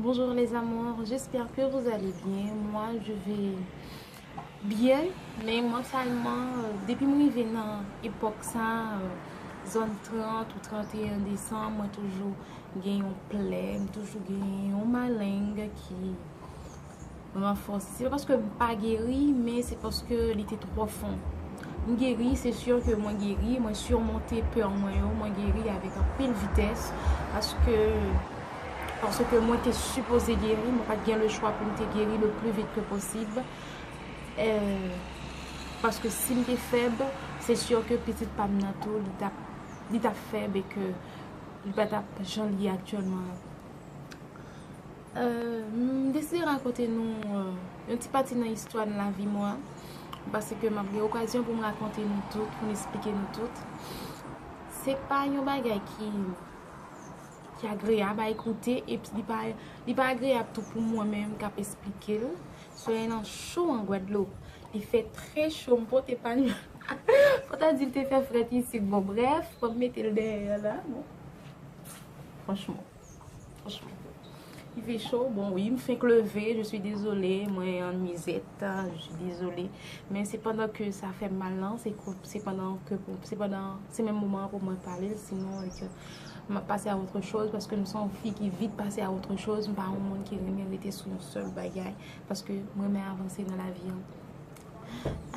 Bonjour les amours j'espère que vous allez bien moi je vais bien men mentalement depi m rive nan epok sa zòn 30 ou 31 décembre mwen toujou gen yon plè m toujou gen yon maleng ki Ranfòse. Se pa paske m pa geri, men se paske li te twò fon. M geri, se sur ke mwen geri, mwen surmonte peur mwen yo, mwen geri avèk anpil vitès, paske, paske mwen te sipoze geri, mwen pa t gen le chwa pou m te geri le plus vite que possible, paske si m te fèb, se sur ke pitit pa m nan tou, li t ap, li t ap fèb e ke li pa t ap jan li ye aktyèlman an. M deside rakonte nou yon ti pati nan istwa nan lavi mwen, paske m ap gen okazyon pou m rakonte nou tout, pou m esplike nou tout. Se pa yon bagay ki agreyab a ekoute, epi li pa agreyab tou pou mwen menm k ap esplike l. Solèy lan cho an Gwadloup, li fè trè cho, m pote pa m, pou ta di l te fè frèt isit. Bon brèf, fò m mete l dèyè la. Franchman. Il fait chaud, bon oui, m fenk leve, je suis désolé, mwen an nuisette, je suis désolé, men se pandan ke sa fèm mal lan, se pandan ke, se pandan, se menm moman pou mwen pale, sinon e ke m ap pase a otre choz, paske m son fi ki vit pase a otre choz, m pa yon moun ki renmen rete sou yon sèl bagay, paske m renmen avanse nan lavi an.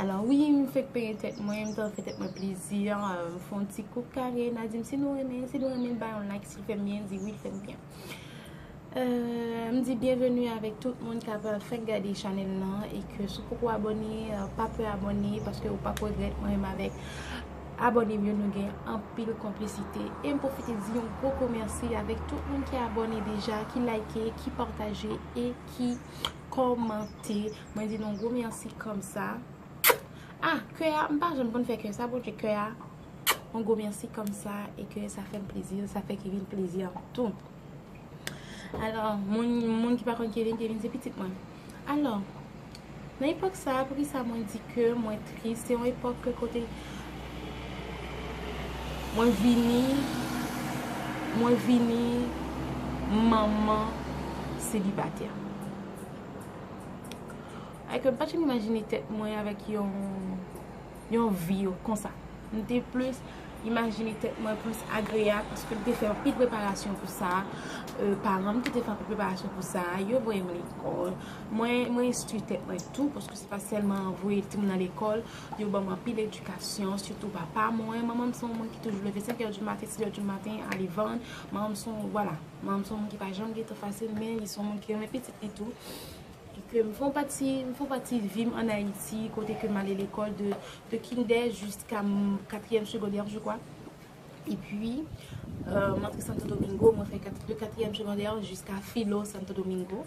Alò wi m fèk penyen tèt mwen, m ta fè tèt mwen plezi, m fon ti koup kare, na di m si nou renmen, si nou renmen ba yon like si l fè m byen, di wi l fè m byen. M di byenveni avèk tout moun kap fèk gade chanèl lan e ke si w poko abòne, pa pè abòne paske ou pap regrèt mwen menm avèk abòne m yo nou gen anpil konplisite. E m pwofite di yon gwo gwo mèsi avèk tout moun ki abòne deja, ki like, ki pataje e ki kòmante. Mwen di nou yon gwo merci komsa. Ah kè a m pa janm konn fè kè sa bondye kè a yon gwo merci komsa e kè sa fè m plezi sa fè Kevin plezi ak m tou. Alò moun ki pa konn Kevin, Kevin se pitit mwen. Alò nan epòk sa pou ki sa mwen di kè mwen tris se yon epòk kè kote mwen vini mwen vini manman selibatè. Ay ke m pa janm imajine tèt mwen avèk yon yon vi yo konsa. M te plis imajine tèt mwen plis agreya paske m te fè anpil preparasyon pou sa. Paran m tou te fè anpil preparasyon pou sa. Yo voye m lekòl. Mwen enstwi tèt mwen tou paske se pa sèlman voye timoun nan lekòl. Yo ban m anpil edikasyon. Sitou papa mwen. Manman m se yon moun ki toujou leve senkè di maten, siyè di maten ale vann. Manman m se yon, vwala. Manman m se yon moun ki pa janm gen tan fasil men li se yon moun ki renmen pitit li tou. E ke m fè yon pati, m fè yon pati vi m an Ayiti kote ke m ale lekòl de de kindè jiska m katriyèm segondè je kwa. E pi m antre Santo Domingo, mwen fè de katriyèm segondè jiska filo Santo Domingo.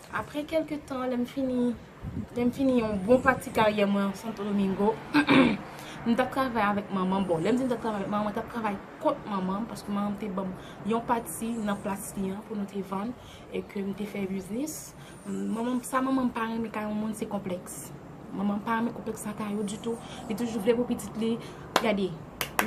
Apre kèlke tan, lè m fini lè m fini yon bon pati karyè mwen an Santo Domingo, m t ap travay avèk manman m. Bon, lè m di m t ap travay avèk manman m, mwen t ap travay kont manman m paske manman m te ban m yon pati nan plas li an pou nou te vann e ke m te fè biznis. Manman m, sa manman m pa renmen kay yon moun se konplèks. Manman pa renmen konplèks ata yo ditou. Li toujou vle pou pitit li. Gade,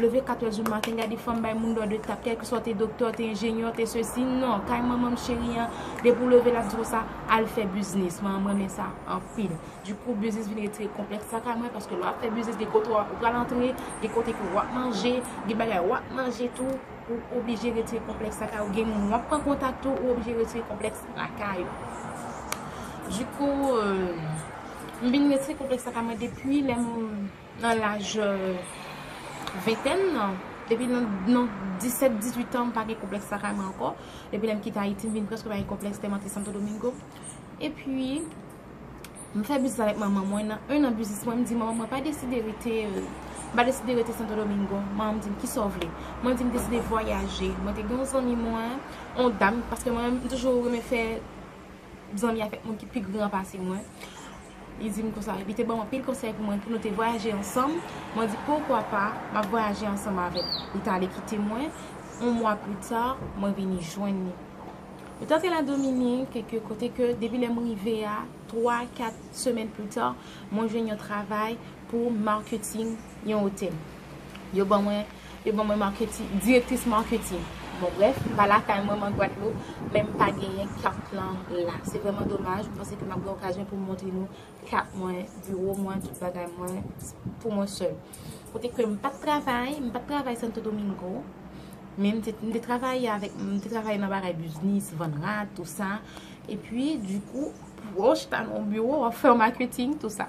leve 4 èz di maten, gade fanm bay moun dò de tap. Kèlke swa ou te doktè, ou te enjenyè, ou te sesi. Non, kay manman m cheri an, depi ou leve lap di konsa, al fè biznis. Manman m renmen sa anpil. Dikou, biznis vin retire konplèks sa kay mwen. Paske lè wap fè biznis, gen kote ou pral antre, gen kote ke wap manje, gen bagay wap manje tou. Ou oblije retire konplèks lakay ou. Gen moun wap pran kontak tou, ou oblije retire konplèks lakay ou. Dikou. M vin resi konplèks sa pa mwen depi lè m nan laj ventèn nan. Depi nan nan disèt, dizuitan m pa gen konplèks sa kay mwen ankò. Depi lè m kite Ayiti m vin prèske pa gen konplèks tèlman te Santo Domingo. Epi, m fè biznis avèk manman mwen. Nan enn an biznis mwen m di manman mwen pa deside rete m pa deside rete Santo Domingo. Manman m di m ki sa w vle? Mwen di m deside vwayaje. Mwen te gen yon zanmi mwen, yon dam paske mwen menm m toujou renmen fè. zanmi avèk moun ki pi gran pase mwen. Li di m konsa, li te ban m anpil konsèy pou mwen pou nou te vwayaje ansanm. Mwen di poukwa pa, m ap vwayaje ansanm avè l. Li t ale kite mwen, yon mwa pita, mwen vini jwenn li. Nou t ap fè Ladominik, kèk kote ke depi lè m rive a, twa, kat semèn pita, mwen jwenn yon travay pou marketing yon otèl. Yo ban mwen, yo ban mwen marketing, directrice marketing. Bon bref, m pa lakay mwen, mwen Guadeloupe, men m pa genyen carte lan la. Se vrèman domaj, m panse ke m ap gen okazyon pou m montre nou carte mwen, bureau mwen, tout bagay mwen, pou mwen sèl. Kote ke m pa t travay, m pa t travay Santo Domingo, men m te, m te travay avèk, m te travay nan bagay biznis, vann rad, tou sa. E pi, di kou, pou w chita nan yon bureau, w ap fè yon marketing, tou sa.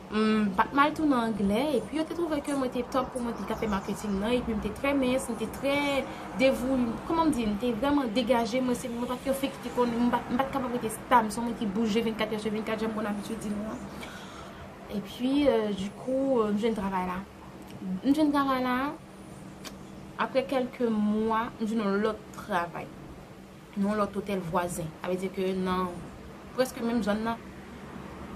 M pa t mal tou nan anglè, epi yo te twouve ke mwen te top pou mwen te tape marketing nan, epi m te trè mens, m te trè devou, kòman m di, m te vrèman degaje, mwen se, mwen pa t yon fi ki te konn, m pa t kapab rete stab, son moun ki bouje 24 è sou 24, jan m konn abitye di nou an. Epi, dikou, m jwenn travay la. M jwenn travay la, aprè kèlke mwa, m jwenn yon lòt travay. nan yon lòt otèl vwazen, sa vle di ke nan prèske menm zòn nan,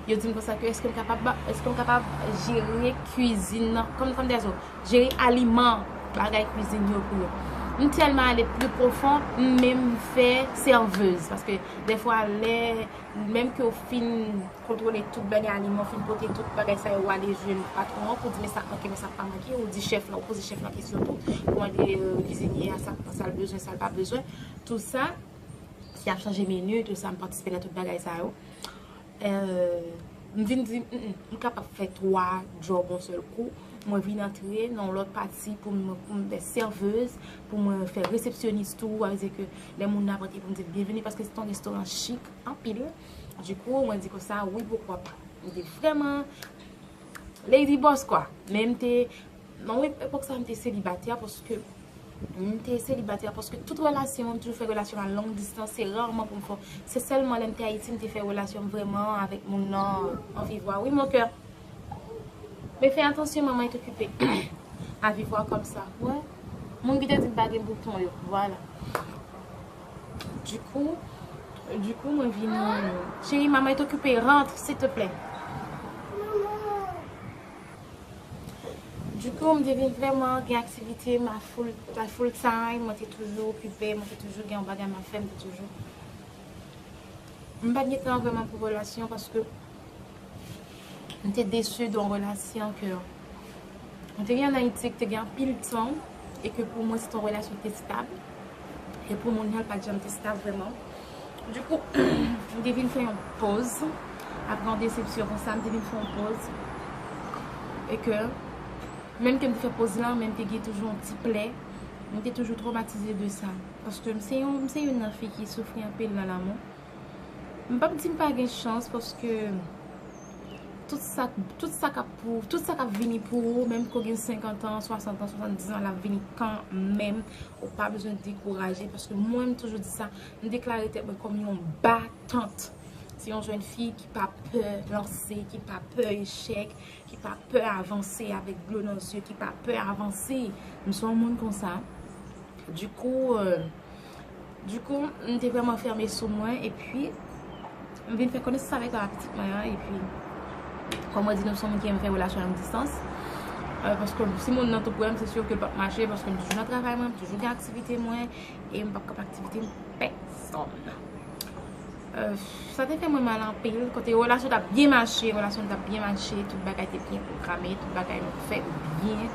yo di m konsa ke èske m kapab, èske m kapab jere kwizin nan, kòm kòm dèzo, jere aliman, bagay kwizin yo pou yo. M tèlman ale pli pwofon, m menm fè sèvez, paske dèfwa lè, menm ke ou fin kontwole tout bagay aliman, ou fin pote tout bagay sa yo, ou ale jwenn patwon an pou di men sa k manke, men sa k pa manke, ou di chèf la, ou poze chèf la kesyon tou, ou mande kwizinye a sa l bezwen, sa l pa bezwen. Tout sa, si ap chanje menu, tout sa, m patisipe nan tout bagay sa yo. M vin di, m kapab fè 3 job yon sèl kou. Mwen vin antre nan yon lòt pati pou m fè serveuse, pou mwen fè resepsyonis tou. A vezi ke lè moun ap antre pou m di l byenveni, paske se ton restoran chik anpil. Du kou, mwen di konsa, wi poukwa pa. M te vreman lady boss kwa. Men m te. Nan epòk sa a m te selibatè paske m te selibatè paske tout relasyon m toujou fè relasyon a long distans se rarman pou m fè se sèlman lè m te Ayiti m te fè relasyon m vrèman avèk moun nan an vivwa wi mon cœur men fè atansyon manman est occupée a vivwa kòm sa wè moun ki te di m pa gen bouton yo vwala dikou dikou mwen vin cheri manman est occupée rentre s'il te plaît. Du coup, m te vin vrèman gen aktivite, m a full time, mwen te toujou okipe, mwen te toujou gen yon bagay m ap fè, m te toujou. M pa t gen tan vrèman pou relasyon paske m te desu de yon relasyon ke m te gen an Ayiti ki te gen anpil tan e ke pou mwen se te yon relasyon ki te stab e pou moun nan l pa t janm te stab vrèman. Du kou, m te vin fè yon poz, apre yon desepsyon konsa, m te vin fè yon poz, e ke, menm ke m te fè poz lan, men m te gen toujou yon ti plè, m te toujou tromatize de sa, paske m se yon, m se youn nan fi ki soufri anpil nan lanmou, m pap di m pa gen chans, paske. Tout sa tout sa kap pou tout sa kap vini pou ou menm ke w gen 50 ans 60 ans 70 ans lap vini kan menm ou pa bezwen dekouraje paske mwen m toujou di sa m deklare tèt mwen kòm yon batant se yon jèn fi ki pa pè lanse ki pa pè echèk ki pa pè avanse avèk dlo nan zye ki pa pè avanse m se yon moun konsa di kou euh Du coup, m te vrèman fèmen sou mwen e pi m vin fè konesans avèk papa pitit mwen an e pi kòm mwen di nou m son moun ki renmen fè relasyon long distans paske si moun nan tou pre m se sur ke l p ap mache paske m toujou nan travay mwen, m toujou gen aktivite mwen e m p ap k ap aktivite m pèsonn. Sa te fè mwen mal anpil, kote relasyon t ap byen mache, relasyon nou t ap byen mache, tout bagay te byen pwograme, tout bagay nou fè yo byen,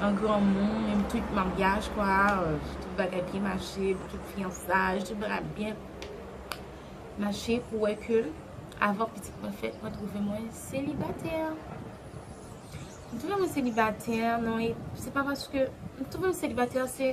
an granmou, menm tout maryaj kwa, tout bagay byen mache, tout fyansaj, tout bagay byen mache pou wè ke avan pitit mwen fèt, mwen twouve mwen selibatè. Mwen twouve mwen selibatè nan, se pa paske, mwen twouve mwen selibatè se,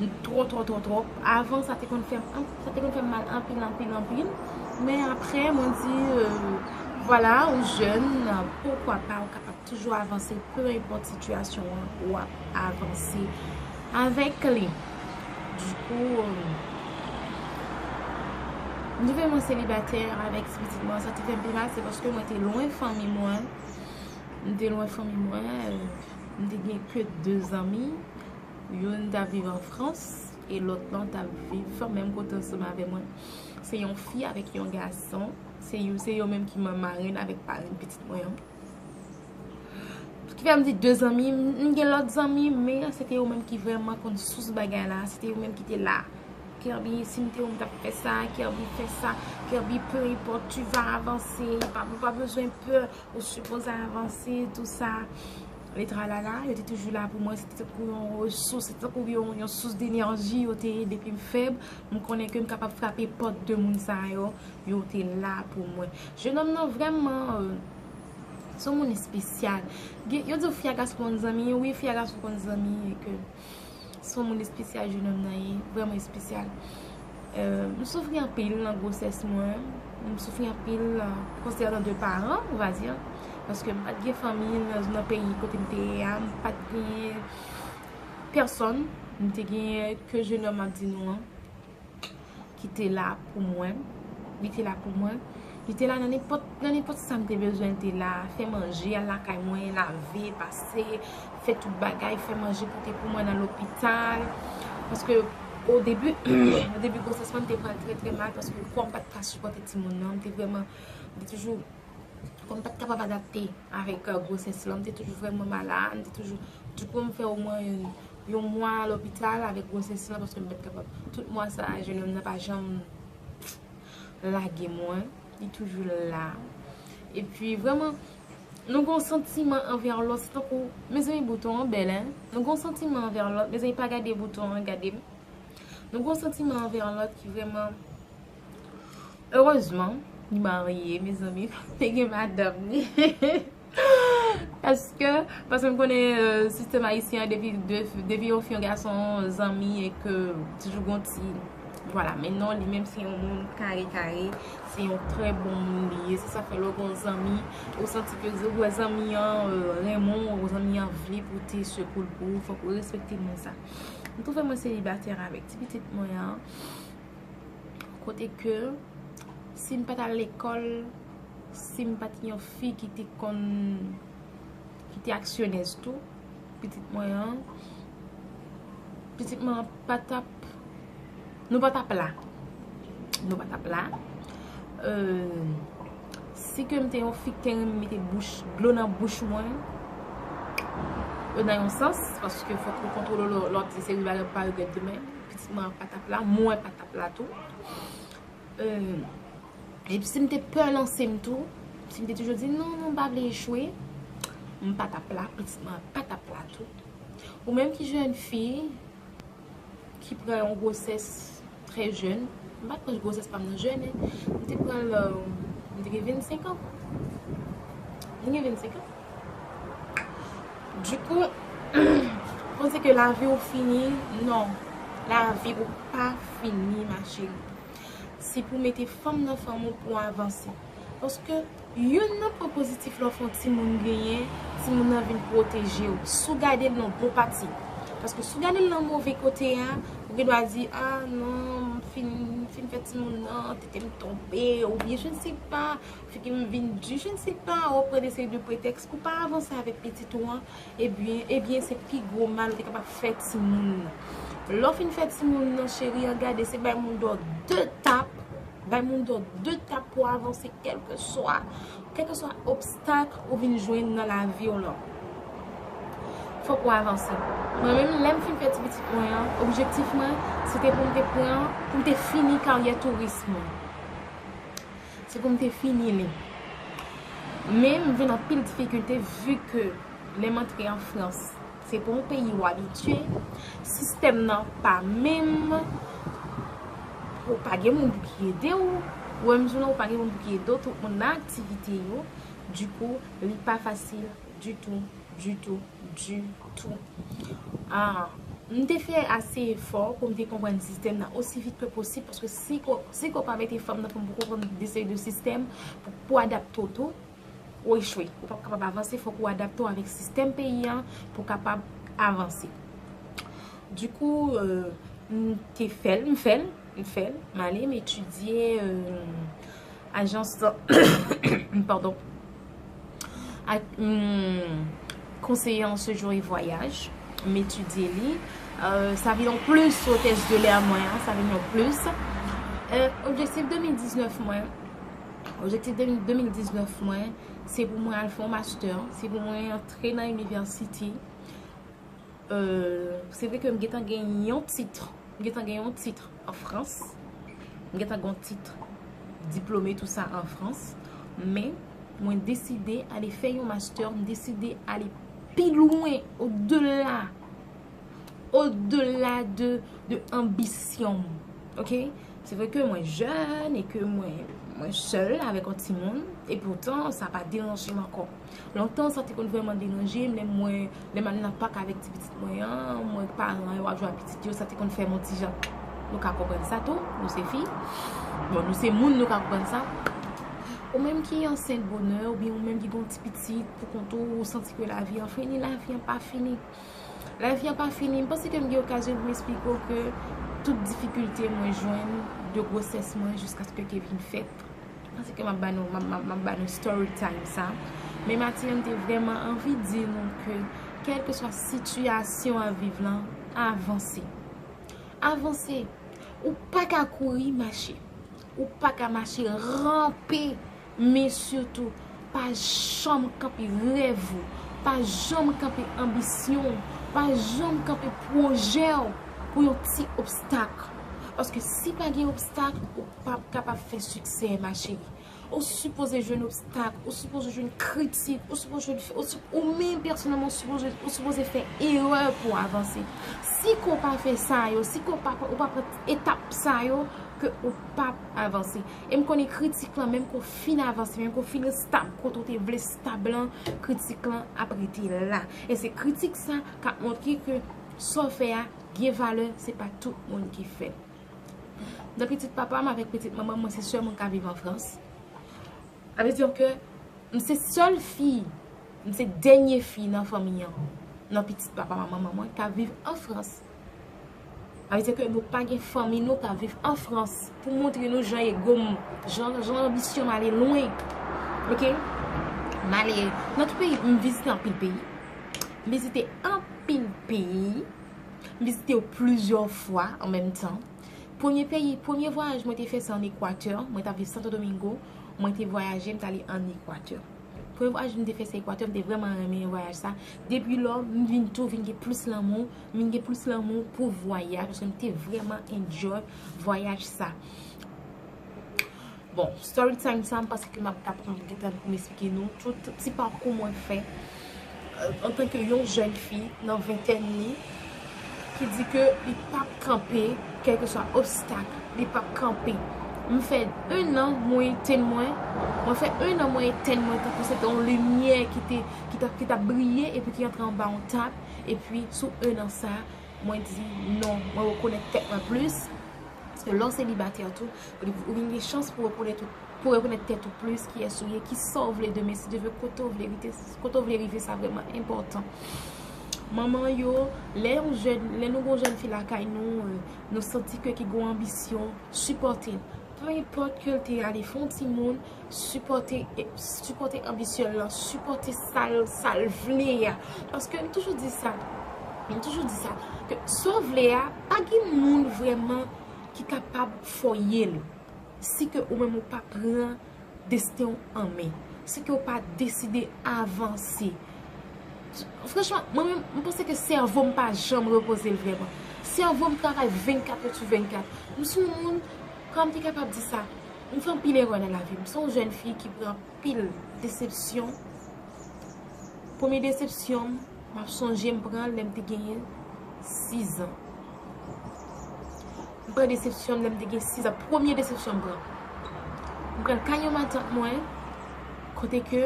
Li twò twò twò twò. Avan sa te konn fèm sa te konn fèm mal anpil anpil anpil men aprè mwen di vwala ou jèn poukwa pa ou kapab toujou avanse peu enpòt sitiyasyon an ou ap avanse avèk li di kou m te fè mwen selibatè avèk ti pitit mwen sa te fèm pi mal se paske mwen te lwen fanmi mwen m te lwen fanmi mwen m te gen ke 2 zanmi Youn t ap viv an Frans e lòt lan t ap viv menm kote ansanm avè mwen. Se yon fi avèk yon gason. Se yo menm ki marenn avèk parenn pitit mwen an. Ki fè m di de zanmi, m gen lòt zanmi, men se te yo menm ki vrèman konn sous bagay la. Se te yo menm ki te la. Kerby, si m te ou m t ap fè sa. Kerby, fè sa. Kerby, pe enpòt, tu va avanse. Ou pa bezwen pè. Ou sipoze avanse, tou sa. Le tralala yo te toujou la pou mwen, se te tankou yon resous, se te tankou yon sous denerji yo te ye depi m fèb, m konnen ke m kapab frape pòt de moun sa yo, yo te la pou mwen. Jenòm nan vrèman, son moun espesyal. Yo di w fi a gason konn zanmi, wi fi a gason konn zanmi. Son moun espesyal jenòm nan ye, vrèman espesyal. M soufri anpil nan gwosès mwen, m soufri anpil konsènan de paran, on va dire. Paske m pat gen fanmi nan peyi kote m te ye a, m pat gen pèsòn, m te gen ke jenòm ap di nou an. ki te la pou mwen. Li te la pou mwen. Li te la nan nenpòt sa m te bezwen li te la. Fè manje al lakay mwen, lave, pase, fè tout bagay, fè manje pote pou mwen nan lopital. Paske o debi, o debi gwosès mwen m te pral trè trè mal paske kò m pa t ka sipòte timoun nan. M te vreman, m te toujou, kò m pa t kapab adapte avèk gwosès lan. M te toujou vreman malad, m te toujou, tout pou m fè o mwen yon. Yon mwa lopital avèk gwosès lan paske m pat kapab. Tout mwa sa a jenòm nan pa janm lage mwen. Li toujou la. E pi vrèman nou gon santiman anvè lòt se tankou mezanmi bouton an bèl hein. Nou gon santiman anvè lòt mezanmi pa gade bouton an gade m. Nou gon santiman anvè lòt ki vrèman erezman li marye mezanmi li gen madanm li. Eske, paske m konnen sistèm ayisyen an depi depi yo fè yon gason zanmi e ke toujou gon ti vwala men non li menm se yon moun kare kare se yon trè bon moun li ye se sa fè lè gon zanmi ou santi ke ou wè zanmi an renmen w ou zanmi an vle pote sekou l pou ou fòk ou respekte moun sa m twouve mwen selibatè avèk ti pitit mwen an kote ke si m pa t al lekòl Sim pat yon fi ki te konn ki te aksyonèz tou pitit mwen an pitit mwen an pa tap nou pa tap la nou pa tap la euh si ke m te yon fi ki te renmen mete bouch dlo nan bouch mwen euh nan yon sans paske fòk ou kontwole lò lò ap di se wi bagay pou pa regrèt demen pitit mwen an pa tap la mwen pa tap la tou euh. Epi si m te pè lanse m tou, si m te toujou di non, non m pa vle echwe, m pa t ap la, pitit mwen an pa t ap la tou. Ou menm ki jèn fi, ki pran yon gwosès trè jèn, m pa t pran gwosès pa m nan jèn, m te pran l, m te gen 25 an. M te gen 25 an. Dikou, panse ke lavi ou fini, non, lavi ou pa fini ma cheri. Se pou mete fanm nan fanm ou pou avanse. Paske youn nan pwen pozitif lè w fè yon timoun genyen, timoun nan vin pwoteje w. Si w gade l nan bon pati. Paske si w gade l nan move kote a, ou gen dwa di, a non, m fin fè timoun nan, tete m tonbe, oubyen je ne sais pas, figi m vin di, je ne sais pas, ou ap pran de seri de pretèks pou w pa avanse avèk pitit ou an, Ebyen, ebyen se pi gwo mal ou te kapab fè timoun nan. Lè w fin fè timoun nan cheri an gade se bay moun dò de tap, bay moun dò de tap pou avanse kèlke swa, kèlke swa obstak ou vin jwenn nan lavi w lan. Fòk ou avanse. Mwen menm lè m fin fè ti pitit mwen an, objektif mwen se te pou m te pran, pou m te fini karyè touris mwen. Se pou m te fini li. Men m jwenn anpil difikilte vu ke lè m antre an Frans, se pa yon peyi ou abitye, sistèm nan pa menm, ou pa gen moun pou ki ede ou, ou menm tou nan ou pa gen moun pou ki ede ou, tout moun nan aktivite yo, dikou li pa fasil. Du tou, du tou, du tou. M te fè ase efò pou m te konprann sistèm nan osi vit ke posib, paske si ko, si ko pa mete fèm nan fèm pou konprann de seri de sistèm, pou, pou adapte w tou, w echwe. Ou pap kapab avanse, fòk ou adapte w avèk sistèm peyi an pou w kapab avanse. Du kou, m te fè l, m fè l, m fè l, m ale, m etidye, Ajans lan pardon ak konseye an sejouye vwayaj m etidye li sa vin yon plis sou tès de lè mwen an sa vin yon plis objektif 2019 mwen objektif 2019 mwen se pou mwen al fon master se pou mwen antre nan inivèsite Euh se vre ke m gentan gen yon titre, m gentan gen yon titre en France, m gentan gen yon titre diplome tout sa en France, men mwen deside ale fè yon master, m deside ale pi lwen au delà, au delà de ambition m, ok. Se vre ke mwen jeune e ke mwen seule avèk yon timoun e pourtant sa pa deranje m ankò. Lontan sa te konn vrèman deranje m lè m wè lè m al nan pak avèk ti pitit mwen an, m wè paran yo ap jwe ak pitit yo, sa te konn fè m on ti jan. Nou ka konprann sa tou, nou se fi. Bon, nou se moun, nou ka konprann sa. Ou menm ki ansent bonè, oubyen ou menm ki gen yon ti pitit pou kont ou, ou santi ke lavi an fini, lavi an pa fini. Lavi an pa fini. M panse ke m gen okazyon pou m esplike w ke tout difikilte mwen jwenn de gwosès mwen jiskaske ke vin fèt. Panse ke map ba nou, map ba nou story time sa. Men Mati an te vreman anvi di nou ke kelke swa sitiyasyon a viv lan, avanse. Avanse. Ou pa ka kouri, mache. Ou pa ka mache, rampe. Men sitou, pa janm kanpe rev ou. Pa janm kanpe anbisyon ou. Pa janm kanpe pwojè ou pou yon ti obstak. Paske si pa gen obstak, ou pap kapab fè siksè ma cheri ou sipoze jwenn obstak ou sipoze jwenn kritik ou sipoze jwenn fè ou menm pèsonèlman ou sipoze fè erè pou w avanse si ke w pa fè sa yo si ke w pa pran etap sa yo ke ou pap avanse e m konnen kritik lan menm ke w fin avanse menm ke w fin estab kote w te vle estab lan kritik lan ap rete la e se kritik sa k ap montre ke sa w fè a gen valè se pa tout moun ki fè l. Nan pitit papa m avèk pitit manman m, mwen se sèl moun ka viv an Frans. Sa vle di ke m se sèl fi, m se dènye fi nan fanmi an, nan pitit papa m ak manman mwen ka viv an Frans. Sa vle di ke nou pa gen fanmi nou ka viv an Frans. Pou montre nou jan ego m, jan anbisyon m ale lwen. Ok? M ale nan tout peyi, m vizite anpil peyi. M vizite anpil peyi. M vizite yo plizyè fwa an menm tan. Premye peyi, premye vwayaj mwen te fè se an Ekwatè. Mwen t ap viv Santo Domingo. Mwen te vwayaje, m t ale an Ekwatè. Premye vwayaj m te fè se Ekwatè. M te vrèman renmen vwayaj sa. Depi lò, m vin tou vin gen plis lanmou. M vin gen plis lanmou pou vwayaj. Paske m te vrèman enjoy vwayaj sa. Bon, story time sa m panse ke m ap ta pran anpil tan pou m esplike nou tout ti pakou mwen fè antanke yon jèn fi nan ventèn li ki di ke li p ap kanpe kèlkeswa obstak, li p ap kanpe. M fè 1 an mwen etenn mwen, mwen fè 1 an mwen etenn mwen tankou se te yon limyè ki te, ki t ap, ki t ap briye epi ki antre anba yon tab epi sou 1 an sa mwen di non, mwen rekonèt tèt mwen plis paske lè w selibatè tou Ou vin gen chans pou w rekonèt tèt ou plis, kiyès ou ye, ki sa w vle demen, si Dye vle, kote w vle rite, kote w vle rive sa vrèman enpòtan. Manman yo, lè yon jèn, lè nou gen yon jèn fi lakay nou, nou santi ke ki gen yon anbisyon, sipòte l. Peu enpòte ke l te ale fè yon timoun, sipòte, sipòte anbisyon l lan, sipòte sa l, sa l vle a. Paske m toujou di sa, m toujou di sa, ke sa w vle a, pa gen moun vrèman. ki kapab foye l si ke ou menm ou pa pran desten ou an men, si ke ou pa deside avanse. Franchman, mwen menm, mwen panse ke sèvo m pa janm repoze l vrèman. Sèvo m travay 24 èd sou 24. M sou moun, kòm m te kapab di sa, m fè anpil erè nan lavi m. M son jèn fi ki pran. Pil desepsyon. Premye desepsyon m, m ap sonje m pran l lè m te genyen 6 an. M pran desepsyon m lè m te gen 6 an. Premye desepsyon m pran. M pran l kay yon matant mwen, kote ke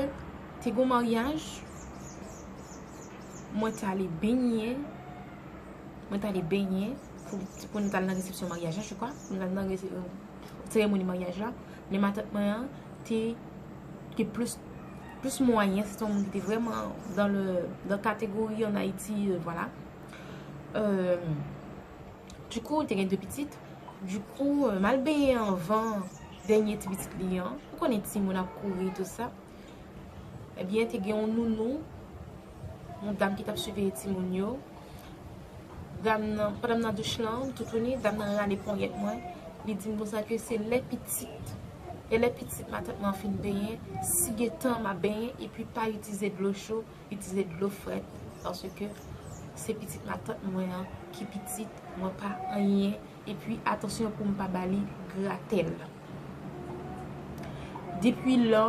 te gen yon maryaj, mwen t ale benyen, mwen t ale benyen, pou nou t al nan resepsyon maryaj la, jekwa, pou nou t al nan seremoni maryaj la. Men matant mwen an te gen plis mwayen, se te yon moun ki te vreman dan le, dan kategori an Ayiti, vwala. Du kou, te gen 2 pitit, du kou, mal benyen anvan denye ti pitit li an, ou konnen ti moun ap kouri tout sa. Ebyen te gen yon nounou, yon dam ki tap siveye ti moun yo. Dam nan, pandan m nan douch lan, m toutouni, dam nan rale ponyèt mwen. Li di m konsa ke se lè pitit, e lè pitit matant mwen an fin benyen, si gen tan m ap benyen, epi pa itize dlo cho, itize dlo frèt. Paske se pitit matant mwen an ki pitit, mwen pa anyen. Epi atansyon poum pa bali gratel. Depwi lò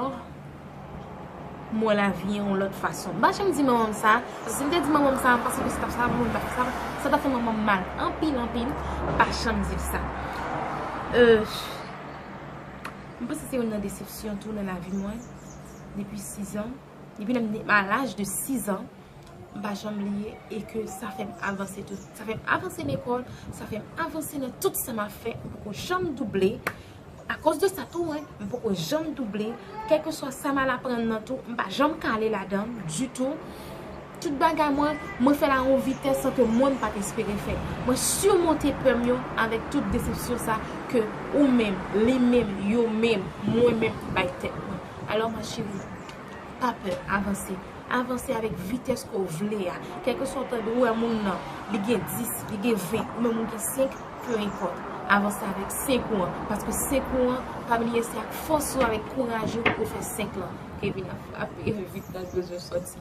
m wè lavi an yon lòt fason. M pa janm di manman m sa, paske si m te di manman m sa, m panse ke se tap sa manman m tap fè sa, sa tap fè manman m mal anpil anpil, m pa janm di l sa. M panse se youn nan desepsyon tou nan lavi mwen depi 6 an. Depi lèm te a laj de 6 ans m pa janm bliye e ke sa fèm avanse tout. Sa fèm avanse lekòl, sa fèm avanse nan tout sa map fè. M poko janm double a koz de sa tou m poko janm double kèlkeswa sa mal aprann nan tou m pa janm kale ladann ditou. Tout bagay mwen, mwen fè l a yon vitès sa ke mwen m pat espere fè. Mwen simonte pè m yo avèk tout desepsyon sa ke ou menm, li menm, yo menm, mwen menm bay tèt mwen. Alò ma chérie, pa pè, avanse. Avanse avèk vitès ke w vle a. Kèlkeswa ou ta wè moun nan, li gen 10, li gen 20, ou menm ou gen 5, peu importe. Avanse avèk 5 ou an. Paske 5 ou an, pa bliye se ak fòs ou, avèk kouraj ou pou w fè 5 lan. Kevin ap frape vit nan bezwen sòti.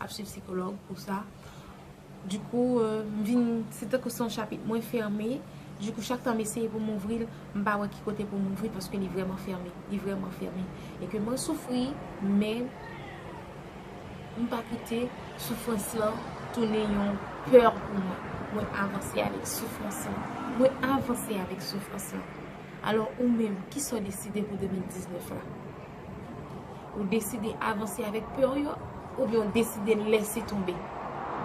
ap swiv sikològ pou sa. Du kou, m vin, se tankou se yon chapit mwen fèmen. Du kou, chak tan m eseye pou m ouvri l, m pa wè ki kote pou m ouvri paske li vrèman fèmen. Li vrèman fèmen. E ke mwen soufri, men, m pa kite soufrans lan tounen yon pè pou mwen. Mwen avanse avèk soufrans lan. Mwen avanse avèk soufrans lan. Alò, ou menm, ki sa w deside pou 2019 la? Ou deside avanse avèk pè ou yo oubyen ou deside lèse tonbe.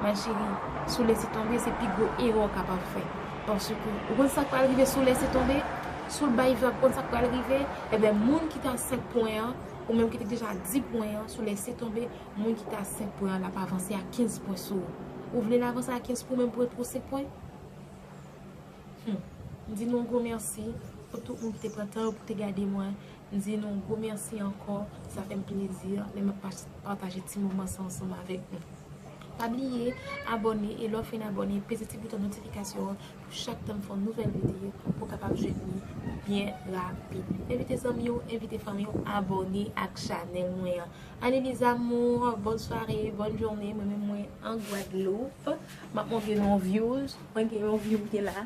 Ma chérie, si w lèse tonbe se pi gwo erè w kapab fè. Paske ou konn sa k pral rive si w lèse tonbe? Si w bay vag ou konn sa k pral rive? Enben moun ki te a 5 pwen an, ou menm ki te deja a 10 pwen an, si w lèse tonbe, moun ki te a 5 pwen an l ap avanse a 15 pwen sou ou. Ou vle l avanse a 15 pou ou menm pou ret pou 5 pwen? Hum. M di nou yon gwo mèsi pou tout moun ki te pran tan yo pou te gade mwen. M di nou gwo mèsi ankò, sa fè m plezi lè m ap pataje ti moman sa ansanm avèk nou. Pa bliye abòne e lè w fin abòne peze ti bouton notifikasyon an pou chak tan m fè yon nouvèl videyo pou w kapab jwenn li byen rapid. Envite zanmi w, envite fanmi w abòne ak chanèl mwen an. Anne mes amours, bonne soirée, bonne journée, mwen menm mwen an Gwadloup, m ap montre nou yon vyouz, mwen gen yon vyou m te la.